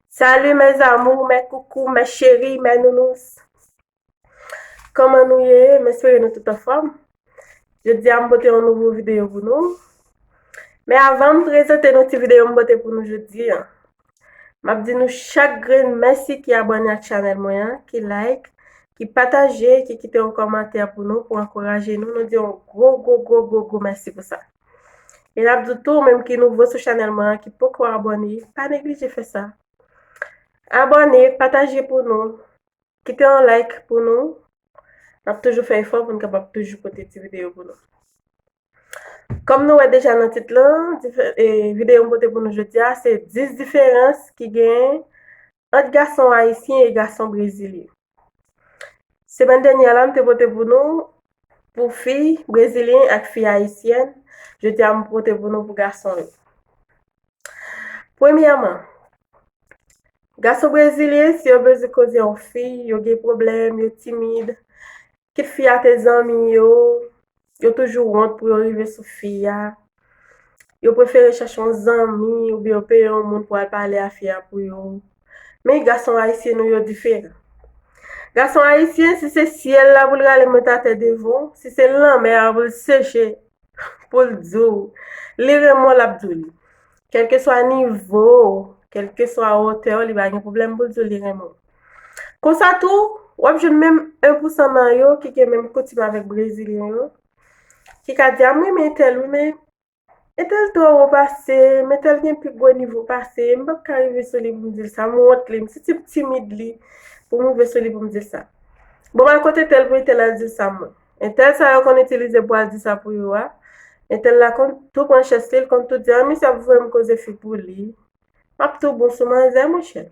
Salut mes amours, mes coucou, mes chéris, mes nounous. Koman nou ye? M espere nou tout anfòm. Je di a m bote yon nouvo videyo pou nou. Men avan m prezante nou ti videyo m bote pou nou je di an. M ap di nou chak gren mèsi ki abone ak chanel mwen an, ki like, ki pataje, ki kite yon komantè pou nou, pou ankouraje nou. Nou di yon gro gro gro gro gro mèsi pou sa. E nap di w tou ou menm ki nouvo sou chanèl mwen an ki poko abòne pa neglije fè sa Abòne pataje pou nou Kite yon like pou nou Nap toujou fè efò pou nou kapab toujou pote ti videyo pou nou Kòm nou wè deja nan tit lan videyo m pote pou nou jodi a se 10 diferans ki gen ant gason ayisyen e gason brezilyen. Semèn dènyè a la m te pote pou nou pou fi brezilyen ak fi ayisyèn, jodi a m pote pou nou pou gason yo. Premyèman, gason brezilyen si yo bezwen koze yon fi, yo gen pwoblèm, yo timid, Kit fi a te zanmi yo, yo toujou wont pou yo rive sou fi a. Yo prefere chèche yon zanmi oubyen yo peye yon moun pou al pale a fi a pou yo. Men gason ayisyen nou yo diferan. Gason ayisyen si se syèl la pou l rale mèt atè devan w, si se lanmè a pou l seche pou l di w li renmen w l ap di w li. Kèlkeswa nivo w, kèlkeswa wotè w li pa gen pwoblèm pou l di w li renmen w. Konsa tou, w ap jwenn menm 1 pousan nan yo ki gen menm koutim avèk brezilyen yo, ki ka di a m renmen entèl wi men entèl twò wo pase m, entèl gen pi gwo nivo pase m, m p ap ka rive sou li pou m di l sa, m wont li, m siti m timid li pou m rive sou li pou m di l sa. Bon m al kot entèl pou entèl al di l sa mwen. Entèl sa yo konn itilize pou al di sa pou yo a, entèl la konn tou pran chès li, l konn tou di a misye ap voye m koze fi pou li, Map tou bon sou manzè monchè.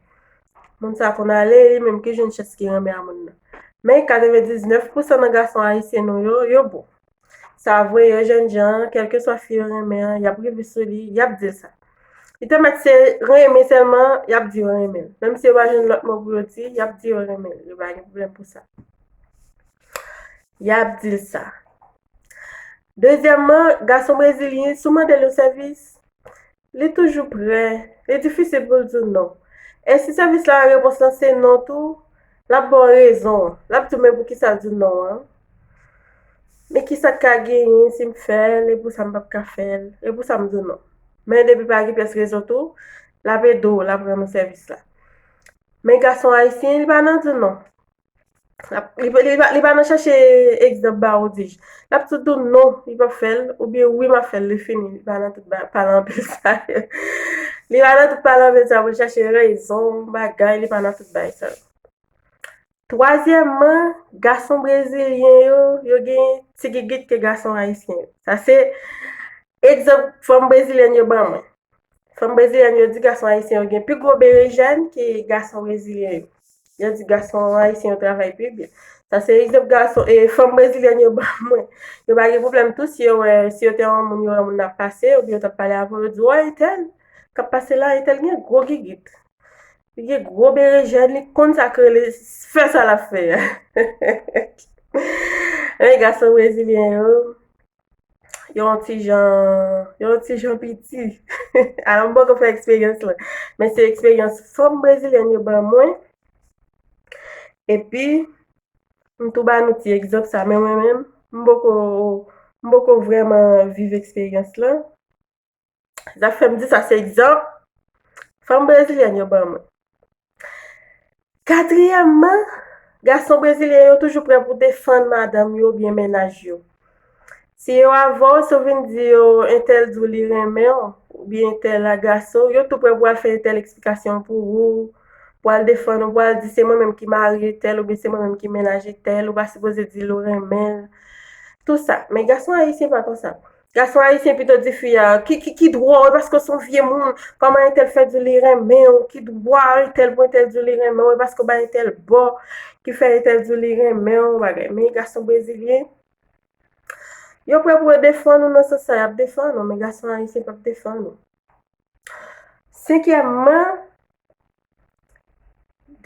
Moun sa konn ale li menm ki jwenn chans ki renmen a moun nan. Men 99 pou san nan gason ayisyen nou yo, yo bon. Sa vre yo jènjan an kèlkeswa fi yo renmen an yap rive sou li, yap dil sa. Li te mèt se renmen sèlman yap di yo renmen l. Menm si yo pa jwenn lòt mo pou yo di, yap di yo renmen l. Yo pa gen pwoblèm pou sa. Yap dil sa. Dezyèmman, gason brezilyen sou mandel yon sèvis, Li toujou prè. Li difisil pou l di w non. E si sèvis la repons lan se non tou, l ap ba w rezon. L ap di w men poukisa l di w non an. Men kisa k ka genyen si m fè l e pousa m pap ka fè l. E pousa m di w non. Men depi pa gen pyès rezon tou, l ap ede w, l ap rann ou sèvis la. Men gason ayisyen li pa nan di w non. Li pa nan chache egzanp ba ou di. Lap tout di ou non li pap fè l ou byen wi map fè l li fini. Li pa nan tout pale anpil sa yo. Li pa nan tout pale anpil sa pou l chache rezon bagay li pa nan tout bagay sa yo. Twazyèmman, gason brezilyen yo, yo gen ti gigit ke gason ayisyen yo. Sa se egzanp fanm brezilyèn yo ban mwen. Fanm brezilyen yo di gason ayisyen yo gen pi gwo berejèn ke gason brezilyen yo. Yo di gason ayisyen yo travay pi byen. Sa se egzanp gason, e fanm brezilyen yo ban mwen. Yo pa gen pwoblèm tou si yo wè, si yo te yon moun, yo wè yon moun ap pase, oubyen yo t ap pale avè w, yo di, woy entèl k ap pase la, entèl gen gwo gigit. Li gen gwo berejèn, li konn sa k rele fè sa l ap fè a. Men gason brezilyen yo. yon ti jan, yon ti jan piti. Ala m poko fè eksperyans la. Men se eksperyans fanm brezilyèn yo ban mwen. Epi, m tou ba nou ti egzanp sa. Men mwen menm, m poko, m poko vrèman viv eksperyans la. Zak fè m di sa se egzanp fanm brezilyèn yo ban mwen. Katriyèmman, gason brezilyen yo toujou prè pou defann madanm yo oubyen mennaj yo. Si yo avè w, si w vin di yo entèl di w li renmen w oubyen entèl agrase w, yo tou prè pou al fè entèl eksplikasyon pou ou, pou al defann ou, pou al di se mwen menm ki mari entèl oubyen se mwen menm ki mennaj entèl, ou pa sipoze di l ou renmen l. Tou sa. Men gason ayisyen pa konsa. Gason ayisyen pito di fi a, ki, ki, ki dwa w e paske w se yon vye moun, pa man entèl fè di li renmen w, ki dwa entèl pou entèl di w li renmen w e paske w bay entèl bò ki fè entèl di w li renmen w bagay. Men gason brezilyen, yo prè pou yo defann ou nan sans sa y ap defann ou men gason ayisyen p ap defann ou. Senkyèmman,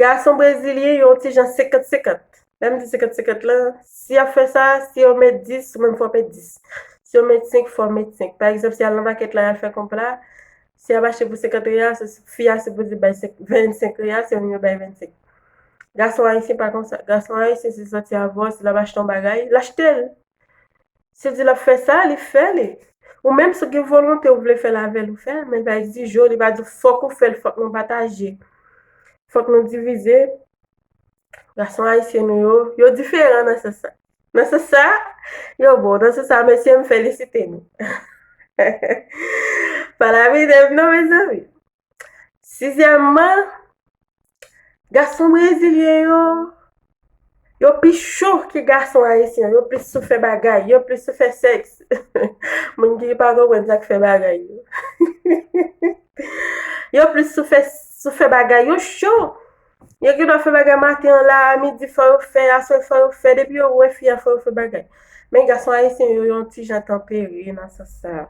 Gason brezilyen yo ti jan 50-50. Lè m di 50-50 lan, si y ap fè sa, si yo met 10, ou menm fò w met 10. Si yo met 5, fò w met 5. Pa egzanp, si y al nan makèt la y al fè konp la, si y ap achte pou 50 real, fi a sipoze bay 25 real, se yo menm yo bay 25. Gason ayisyen pa konsa. Gason ayisyen se sòti avò l, si l ap achte yon bagay, l achte l. Si di lap fè sa li fè li. Ou menm si w gen volonte ou vle fèl avèl ou fèl men bay di jo li pa di fòk ou fèl fòk nou pataje fòk nou divize gason ayisyen nou yo yo diferan nan sans sa nan sans sa yo bon nan sans sa mesye m felisite nou pa lapidem non mezanmi Sizyèmman, gason brezilyen yo, yo pi cho ke gason ayisyen. Yo plis sou fè bagay, yo plis sou fè sèks. Moun ki pa konprann sa k fè bagay yo. Yo plis sou fè, sou fè bagay. Yo cho. Yo gen dwa fè bagay maten an la, a midi fò yo fè, aswè fò yo fè. Depi yo wè fi a fò yo fè bagay. Men gason ayisyen yo, yo yon ti jan tanpere nan sans sa a.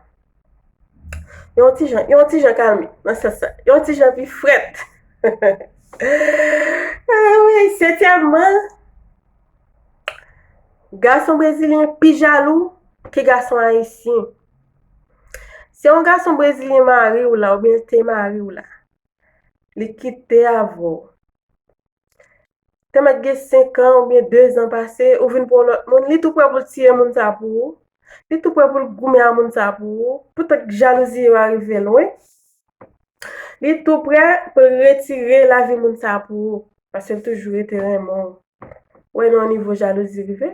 Yon ti jan, yon ti jan kalme nan sans sa. Yon ti jan pi frèt. Anmwey, setyèmman, gason brezilyen pi jalou ke gason ayisyen. Se yon gason brezilyen mari w la oubyen l te mari w la, li kite avè w. Te mèt gen 5 an oubyen 2 zan pase, ou vin pran yon lòt moun, li tou prè pou l tiye moun sa pou ou, li tou prè pou l goumen a moun sa pou ou, poutèt jalouzi yo a rive lwen, li tou prè pou l retire lavi moun sa pou ou, paske l toujou rete renmen w. Ou wè nan yon nivo jalouzi rive.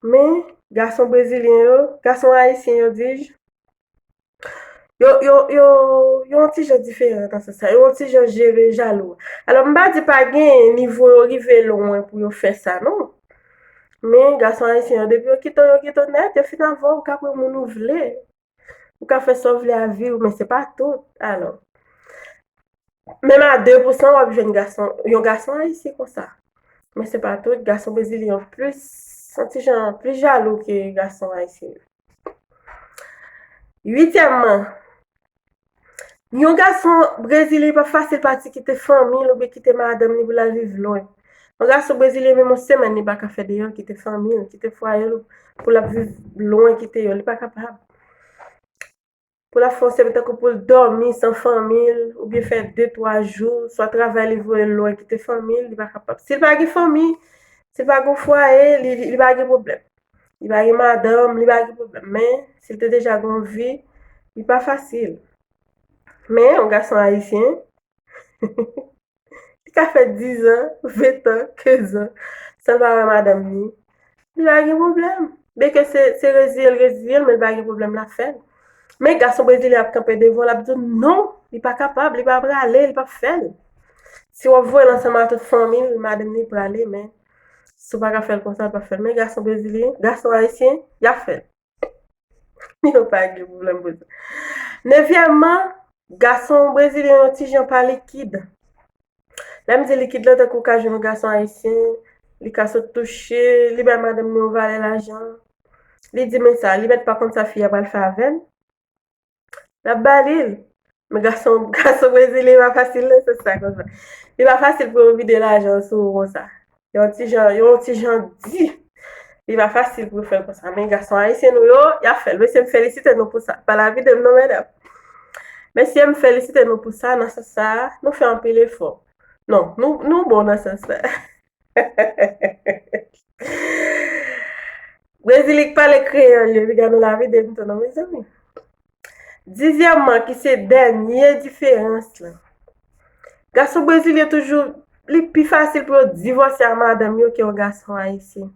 Men, gason brezilyen yo, gason ayisyen yo dij, Yo, yo, yo, yo yon ti jan diferan nan sans sa. Yo yon ti jan jere jalou. Alò, m pa di pa genyen, nivo yo rive lwen pou yo fè sa, non. Men, gason ayisyen yo, depi yo kite w, yo kite w nèt. Yo fin avè w, ou ka pran moun ou vle. Ou ka fè sa w vle ak vi w, men se pa tout. Alò, menm a 2 pou 100 w ap jwenn gason, yon gason ayisyen konsa. Men se pa tout. Gason brezilyen yo plis, yon ti jan, plis jalou ke gason ayisyen yo. Uityèmman, yon gason brezilyen pa fasil pati kite fanmi l oubyen kite madanm li pou l al viv lwen. Yon gason brezilyen menm yon semèn li pa ka fè deyò kite fanmi l, kite fwaye l pou l ap viv lwen kite yo, li pa kapab. pou la fon sèmen tankou pou l dòmi san fanmi l oubyen fè de twa jou swa travay li voye l lwen kite fanmi l li pa kapab si l pa gen fanmi si l pa gen fwaye li pa gen pwoblèm li pa gen madanm li pa gen pwoblèm men si l te deja gen yon vi li pa fasil men yon gason ayisyen Li ka fè dizan, ventan, kezan. San l pa wè madanm ni, li pa gen pwoblèm. Byen ke se reziye l reziye l men li pa gen pwoblèm l ap fè l. Men gason brezilyen ap kanpe devan w l ap di w non, li pa kapab, li pa prale, li pap fè l. Si w ap voye l ansanm a tout fanmi l, madanm ni prale men si w pa ka fè l konsa, l pap fè l. Men gason brezilyen, gason ayisyen, y ap fè l. Yo pa gen pwoblèm pou sa. Nevyèmman, gason brezilyen yon ti jan pa likid. Lè m di likid la, tankou w ka jwenn yon gason ayisyen, li ka sot touche, li bay madanm li yon valè lajan, li di men sa, li mèt pa konn sa fi a pral fè avè l. Lap ba li l. Men gason gason brezilyen pa fasil non se sa konsa. Li pa fasil pou yo vide lajan sou ou konsa. Yon ti jan, yon ti jan di. Li pa fasil pou yo fè l konsa. Men gason ayisyen nou yo, y ap fè l. Mesye m felisite nou pou sa. Pa la vide m non medam. Mesye m felisite nou pou sa nan sans sa a. Nou fè anpil efò. Non, nou nou bon nan sans sa a. Brezili k pale kreyòl yo, piga nou lave de mouton non mezanmi. Dizyèmman, ki se dènye diferans la. Gason brezilyen toujou, li pi fasil pou yo divòse a madanm yo ke yon gason ayisyen.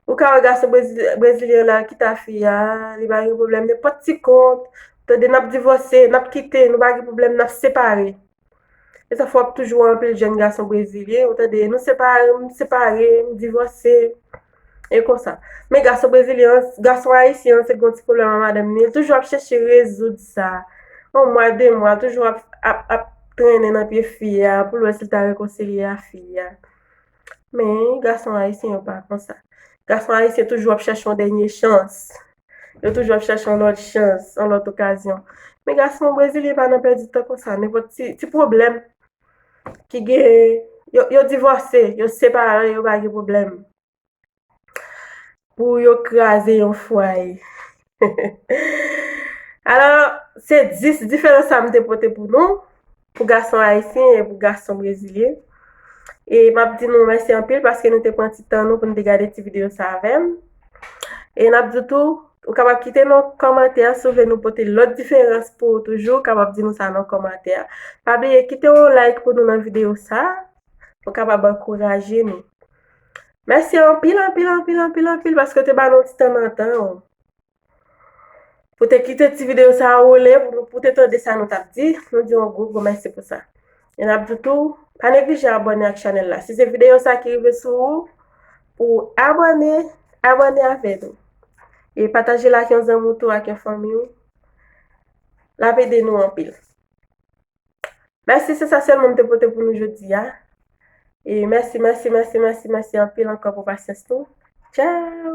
Ou ka wè gason brezilyen la ki ta fi a, li pa gen pwoblèm nenpòt ti kont, tande n ap divòse, n ap kite, nou pa gen pwoblèm, n ap separe. E sa fwa ap toujou wè anpil jèn gason brezilyen, ou tande, nou separe, m separe, m divòse, e konsa. Men gason brezilyen an, gason ayisyen an, se gen yon ti pwoblèm ak madanm li, li toujou ap chèche rezoud sa. Yon mwa, de mwa, toujou ap trennen nan pye fi a, pou l wè si l ta rekonsilye a fi a. Men, gason ayisyen yo pa konsa. Gason ayisyen toujou ap chèche yon dènye chans. Yo toujou ap chèche yon lòt chans, yon lòt okazyon. Men gason brezilyen pa nan pèdi tan konsa. Nenpòt ti pwoblèm ki gen, yo divòse, yo separe, yo pa gen pwoblèm. Pou yo kraze yon fwaye. Alò, se 10 diferans sa m te pote pou nou, pou gason ayisyen e pou gason brezilyen. E m ap di nou mèsi anpil paske nou te pran ti tan nou pou nou te gade ti videyo sa avè m. E n ap di tou, ou kapab kite nou kòmantè si ou vle nou pote lòt diferans pou ou toujou, ou kapab di nou sa nan kòmantè. Pa bliye kite yon like pou nou nan videyo sa, pou w kapab ankouraje nou. Mèsi anpil, anpil, anpil, anpil, anpil paske w te ba nou ti tan nan tan ou pou w te kite ti videyo sa a woule pou w te tande sa nou t ap di. Nou di w yon gwo, gwo mèsi pou sa. E n ap di w tou, pa neglije abòne ak chanèl la. Si se videyo sa a ki rive sou ou, pou w abòne, abòne avè nou. E pataje l ak yon zanmi w tou, ak yon fanmi w. L ap ede nou anpil. Mèsi se sa sèlman m te pote pou nou jodi a. E mèsi mèsi mèsi mèsi mèsi anpil ankò pou pasyans nou. Tchao!